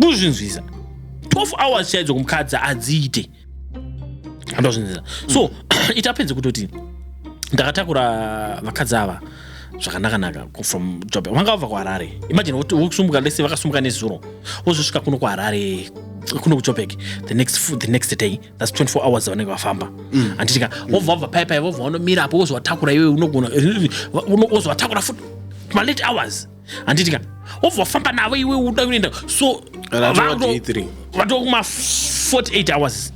kuzvinzwisa 12 hours chaidzo kumukadzi adziite andozvinzwisa so mm. it happens kutoti ndakatakura vakadzi ava zvakanakanaka from job vanga vabva kuharare imagine vokusumbuka lese vakasumbuka nezuro vozosvika kuno kuharare kuno kujobek the next, the next day thats 24 hours vanenge vafamba mm. anditika mm. vobva vabva paipai vobva vanomira apo vozovatakura iwe unogona vozovatakura futi malate hours handiti ka obva wafamba navo iwe uda kuenda so vatova kuma 48 hours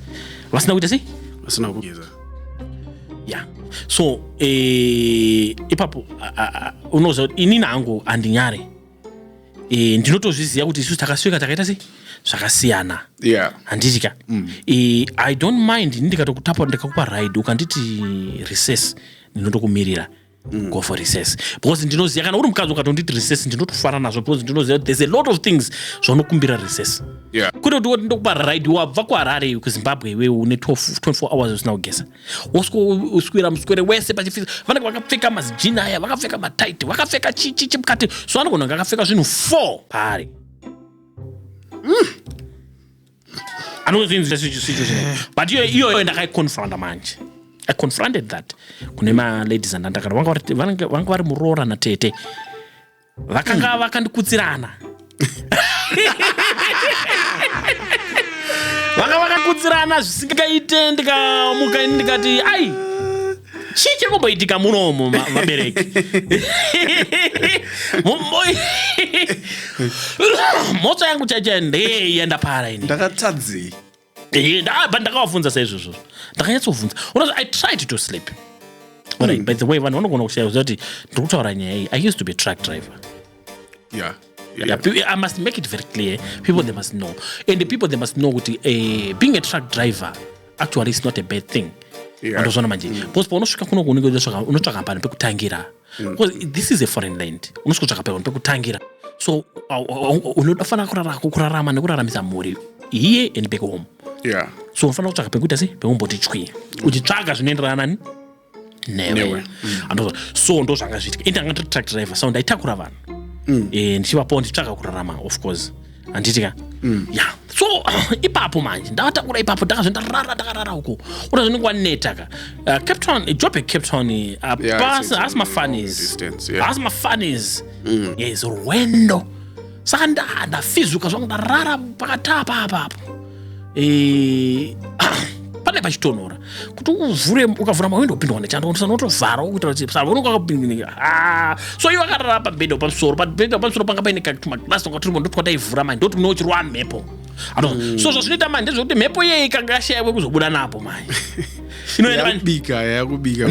vasina kuita sei vasina kugeza ya so eh, ipapo unoziva kuti inini hangu handinyare eh, ndinotozviziva kuti isusu takasvika takaita sei zvakasiyana handiti ka mm. eh, i don't mind ini ndikatokutapa ndikakupa ride ukanditi recess ndinotokumirira Mm. go for recess because ndinoziva kana uri mukadzi ukatonditi recess ndinotofara nazvo because ndinoziva there's a lot of things zvaunokumbira recess yeah. kuti kuti ndokupa ride wabva kuharare iwe kuzimbabwe iwe une 24 hours usina kugeza woswira muswere wese pachifisa vanenge vakapfeka mazijini aya vakapfeka matight vakapfeka chichichi mukati so anogona akapfeka zvinhu 4 paari mm. anozvinzi situation but iyo iyoyo ndakaiconfronta manje i confronted that kune maladies andandakana vanga vari muroora natete vakanga hmm. vakandikutsirana vanga vakakutsirana zvisingaite ndikamuka ini ndikati ai chii chiri kumboitika munomo vabereki motso yangu chaichai ndei yenda para ini ndakatadzei ndabva ndakavafunza saizvozvo ndakanyatsofunza unozi i tried to sleep Right, mm. by the way vanhu vanogona kushaya kuti ndiri kutaura nyaya iyi i used to be truck driver yeah. Yeah, I must make it very clear. People they must know, and the people they must know kuti uh, being a truck driver actually is not a bad thing. andozvona yeah. manje mm. because paunosvika kuno unenge unotsvaka pano pekutangira mm. because this is a foreign land unosvika kutsvaka pano pekutangira so unofanira kurara kurarama nekuraramisa mhuri here and back home yeah. so unofanira kutsvaka pekuita sei pekumboti chwi uchitsvaga zvinoenderana nani newe mm. so ndo zvanga zviitika ini anga ndiri truck driver so ndaitakura vanhu mm. eh, ndichivapawo ndichitsvaka kurarama of course handiti ka mm. ya so ipapo manje ndavatakura ipapo ndakazvendarara ndakarara uko ura zvinenge waneta ka uh, cape town job ecape town eh, apasi haasi mafanis haasi mafanis yes rwendo saka ndafizuka zvangu ndarara pakatapa apapo e, pane pachitonhora kuti uvhure ukavhura mawindo upindwa nechando unotovhara ukuita kuti savononga akapindinika ah, so iwe akarara pabhedha pamusoro pabhedha pamusoro panga paine katumaglas tonga turimo ndotwa taivhura manje ndoti unochirwa mhepo mm. so zvazvinoita manje ndezvekuti mhepo iyeye ikanga yashaiwe kuzobuda napo manje inoendabika yakubika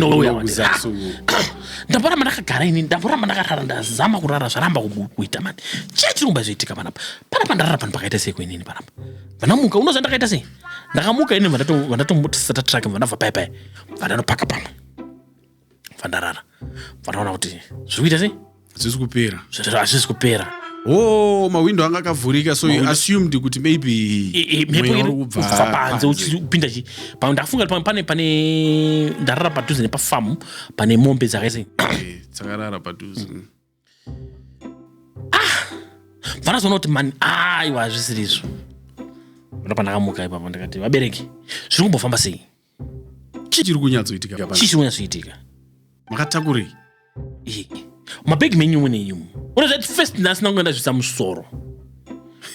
ndamboramba ndakagara ini ndamboramba ndakarara ndazama kurara zvaramba kuita mani chii chirikuba zvoitika panapa panapa ndarara pano pakaita sei kuinini panapa vanamuka unoziva ndakaita sei ndakamuka ini vandatombotisata trake vanabva paya paya vandanopaka pamwe vandarara vanaona kuti zviri kuita sei hazvisi kupera hazvisi kupera Oh, mawindo anga akavhurika so you assumed kuti maybe mhepoirikubva panze uchipinda chi pamwe ndafunga pane pane ndarara padhuze nepafamu pane mombe dzakaise eh, dzakarara padhuze ah vanozoona kuti mani aiwa hazvisiri izvo ndo pandakamuka ipapo ndikati vabereki zviri kumbofamba sei chii chiri kunyatsoitika chii chiri kunyatsoitika makatakurei mabhegi menyu mune imu uri zvati first ndasina kunge ndazvisa musoro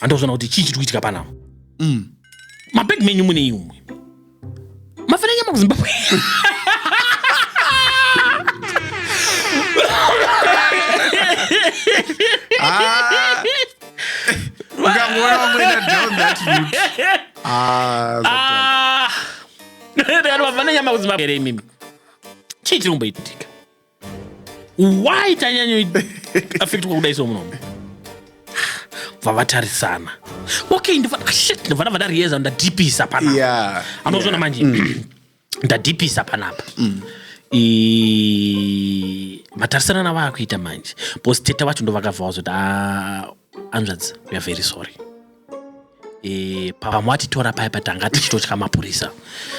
handozvona kuti chii chiri kuitika panapa mm. mabhegi menyu mune imwe mafana nyama kuzimbabwe Ah, ukangoona wamwenda down that route. Ah, zvatoa. Ah. Ndikati mafana nyama kuzimbabwe here imimi chii chiri kumboitika why tanyanyoaffectwa kudai so munomu bva vatarisana okay ndivana vada riyeza ndadipisa panapa anozvona manje mm. ndadipisa panapa mm. matarisana navaakuita manje bcause teta vacho ndovakabva vazoti ah, hanzvadzi weare very sorry e, pavamwe vatitora paya patanga tichitotya mapurisa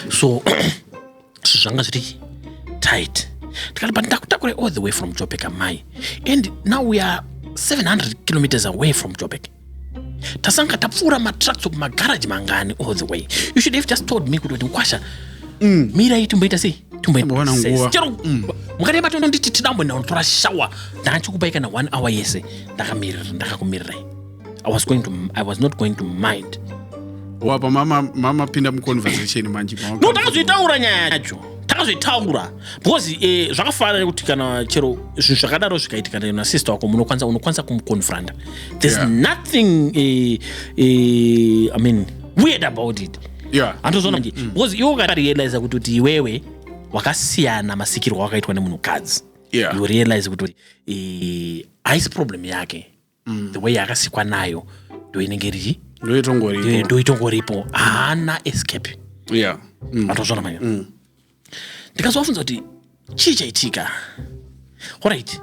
so zvinhu zvanga zviri tight tikati but ndakutakure all the way from jobek amai and now we are 700 kilometers away from jobek tasanga tapfuura matracts kumagaraji mangani all the way you should have just told me kuti kuti mkwasha mm. mira itimboita sei Tombowana nguva. chero mukati yebati unonditi tidambo ndinotora shower ndanga chikupai kana one hour yese ndakamirira ndakakumirirai i was going to i was not going to mind wapa mama mama pinda muconversation manje mama- no takazoitaura nyaya yacho takazoitaura because eh, zvakafanana nekuti kana chero zvinhu zvakadaro zvikaitika na- nasister wako munokwanisa unokwanisa kumuconfronta there's Yeah. nothing eh, eh, i mean weird about it yeah. andozviona manje mm. because iwe ukarealiza kuti kuti iwewe wakasiyana masikirwo wakaitwa nemunhukadzi yeah. you realize kuti eh, haisi problem yake mm. the way yakasikwa nayo ndo inenge rii ndoitongoripo haana escape yeah. mm. andozviona manje mm. ndikazovafunza kuti chii chaitika orit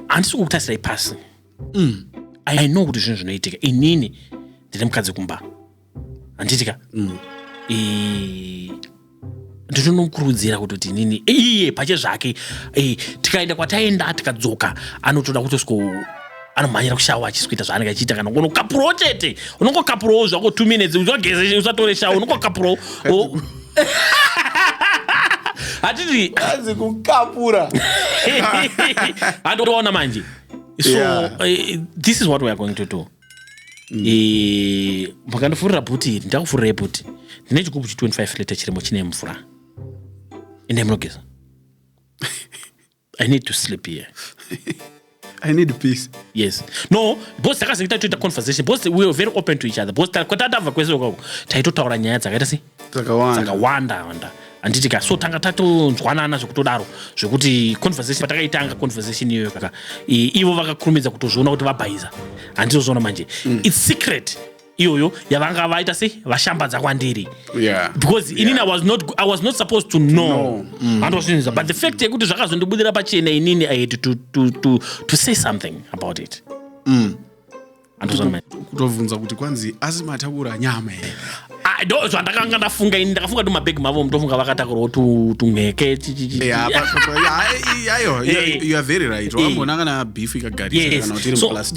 handisi kukutasirai pasi mm. i know kuti zvinhu zvinoitika inini ndine mukadzi kumba handiitika mm. ndinonomukurudzira kutoti inini iye pache zvake tikaenda kwataenda tikadzoka anotoda kutosiko anomhanyira kushawa achisikuita zvaanenge achiita kana kuona kukapurawo chete unongokapurawo zvako two minutes usageze usatore shawa unongokapurawo hatiti anzi kukapura handoona manje so yeah. uh, this is what weare going to do mm. eh, makandifurira bhuti iri ndakufurirai bhuti ndine chigubhu chi 25 liter chirimo chine mvura ende munogeza i need to sleep here I need peace. Yes. No, boss takazengeta toita conversation. Boss we were very open to each other. Boss kwatatava kwese kwako. Taitotaura nyaya dzakaita sei? Dzakawanda. Dzakawanda wanda. Anditi ka so tanga tatonzwanana zvekutodaro zvekuti conversation patakaitanga conversation iyoyo kaka ivo vakakurumidza kutozviona kuti vabhaiza. Handizozviona manje. Mm. It's secret. iyoyo yavanga vaita se vashambadza kwandiri yeah. because yeah. inini I was, not, i was not supposed to know handozvinza no. but the fact yekuti zvakazondibudira pachena inini i had to, to, to, to say something about it mm. kutobvunza kuti kwanzi asi matakura nyama here ndo zvandakanga ndafunga ini ndakafunga tu mabhegi mavo mutofunga vakatakurwa tunheke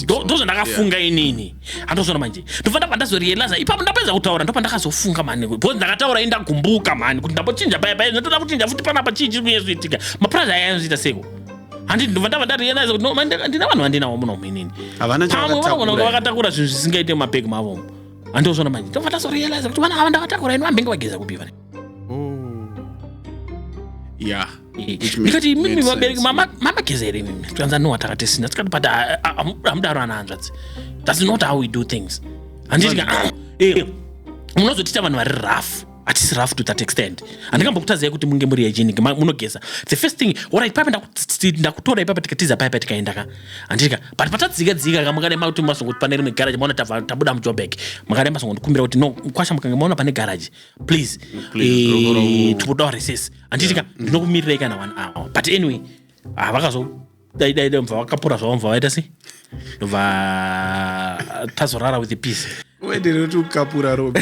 ndo zvandakafunga inini andozvona manje ndofana pandazorealiza ipapo ndapedza kutaura ndopandakazofunga mani bcause ndakataura indagumbuka mani kuti ndambochinja paya paya ndatoda kuchinja futi panapa chii chiri kunye zviitika mapurazi aya anozoita seko handi ndova ndava ndarealiza kuti ndina vanhu vandinawo muno muinini vamwe vanogona kunge vakatakura zvinhu zvisingaite mumapeki mavomo andozvona manje ndova ndazorealiza kuti vana ava ndavatakura ini vambenge vageza kupi vane Oh. Yeah. Which made- ndikati mimi made vabereki sense. mama- mamageza here mimi tikanza no atakatisina tikati but ah, ah, am- amudaro ana hanzvadzi thats not how we do things handiti ka- ah, eh, munozotiita vanhu vari rough hatisi rough to that extent handikambokutazai kuti munge muri hygienic ma- munogeza the first thing ora ipapa ndakuti- ndakutora ipapa tikatiza paipa tikaenda ka handiti ka but patadzika dzika ka makadai makuti masongoti pane rimwe garage maona tava- tabuda mujobek makadai masongondikumbira kuti no kwasha mukange maona pane garage please eh, tikuda waresese handitika ndinokumirirai kana one hour but anyway ah, vakazo dai dai dai mva vakapura zvavo mva vaita sei ndobva ah, tazorara with the peace uendereuti ukapura robe